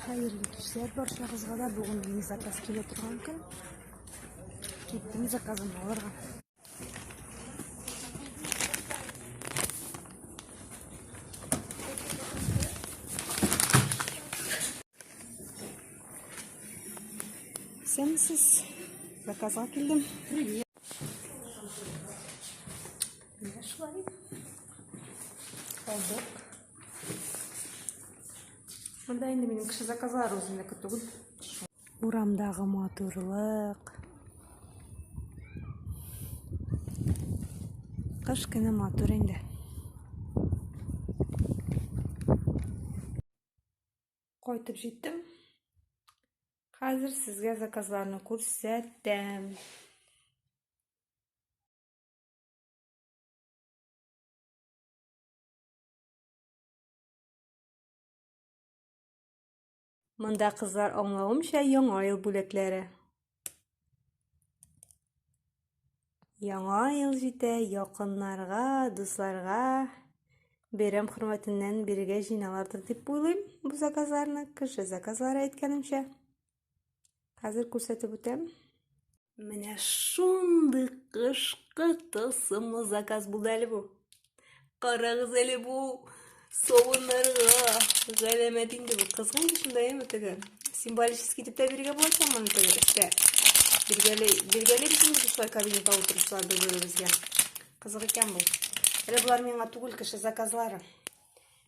Хәерле кичләр баршагызга да. Бүген мин заказ килә торган көн. Киттем заказым алырга. Сенсис. Заказга килдем. Привет. Нашла. Алдык. Монда инде минем кеше заказлары үземнеке түгел. Урамдагы матурлык. Кыш көне матур инде. Кайтып җиттем. Хәзер сезгә заказларны күрсәтәм. Монда кызлар аңлавымча яңа ел бүләкләре. Яңа ел җитә, якыннарга, дусларга бәйрәм хөрмәтеннән бирегә җыйналардыр дип уйлыйм бу заказларны, кеше заказлары әйткәнемчә. Хәзер күрсәтеп үтәм. Менә шундый кышкы тылсымлы заказ булды әле бу. Карагыз әле бу савыннарга галәмәт инде бу. Кызган кешендә яме теге. Символический дип тә биргә була икән моны теге эштә. Биргәле, биргәле без инде шулай кабинетта утырышлар бер-беребезгә. Кызык икән бу. Әле болар миңа түгел кеше заказлары.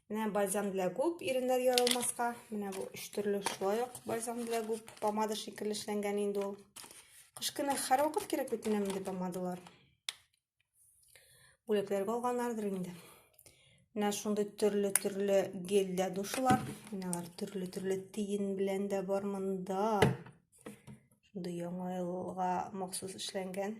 Менә бальзам для губ иреннәр ярылмаска. Менә бу өч төрле шулай ук бальзам для губ помада шикелле эшләнгән инде ул. Кыш көне һәрвакыт кирәк бит менә мондый помадалар. Бүләкләргә алганнардыр инде. Менә шундый төрле-төрле гель дә душылар. Менә алар төрле-төрле тиен белән дә бар монда. Шундый яңа елга махсус эшләнгән.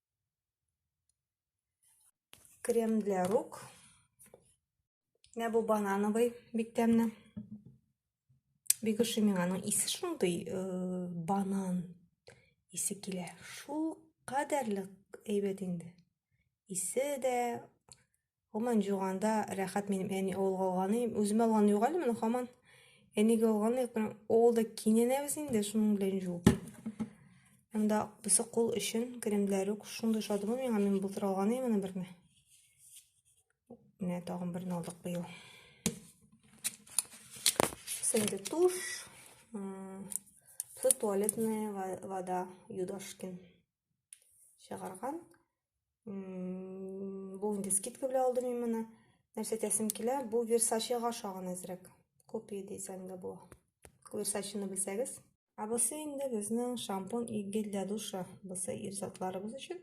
Крем для рук. Менә бу банановый бик тәмле. Бик ошый миңа аның исе шундый э, банан исе килә. Шул кадәрле әйбәт инде. Исе дә, Гоман жуганда рәхәт минем әни авылга алганы. Үзем алган юк әле моны хаман. Әнигә алган юк. Авылда киненәбез инде шуның белән жуып. Анда бусы кул өчен кремләр үк шундый шадымы миңа мин былтыр алган идем моны берне. Менә тагын берне алдык быел. Сенде туш. Туалетная вода Юдашкин. Чыгарган. Бу инде скидка белән алдым мин моны. Нәрсә тәсем килә? Бу Versace-га ошаган әзрәк. Копия дисәң дә була. Versace-ны белсәгез. Ә бусы инде безнең шампунь и гель для душа. Бусы ир затларыбыз өчен.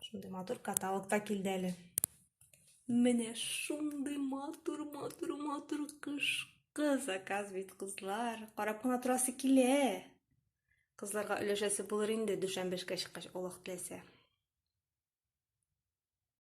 Шундый матур каталогта килде әле. Менә шундый матур, матур, матур кышкы заказ бит, кызлар. Карап кына торасы килә. Кызларга өләшәсе булыр инде, дүшәмбе эшкә чыккач, Аллаһ теләсә.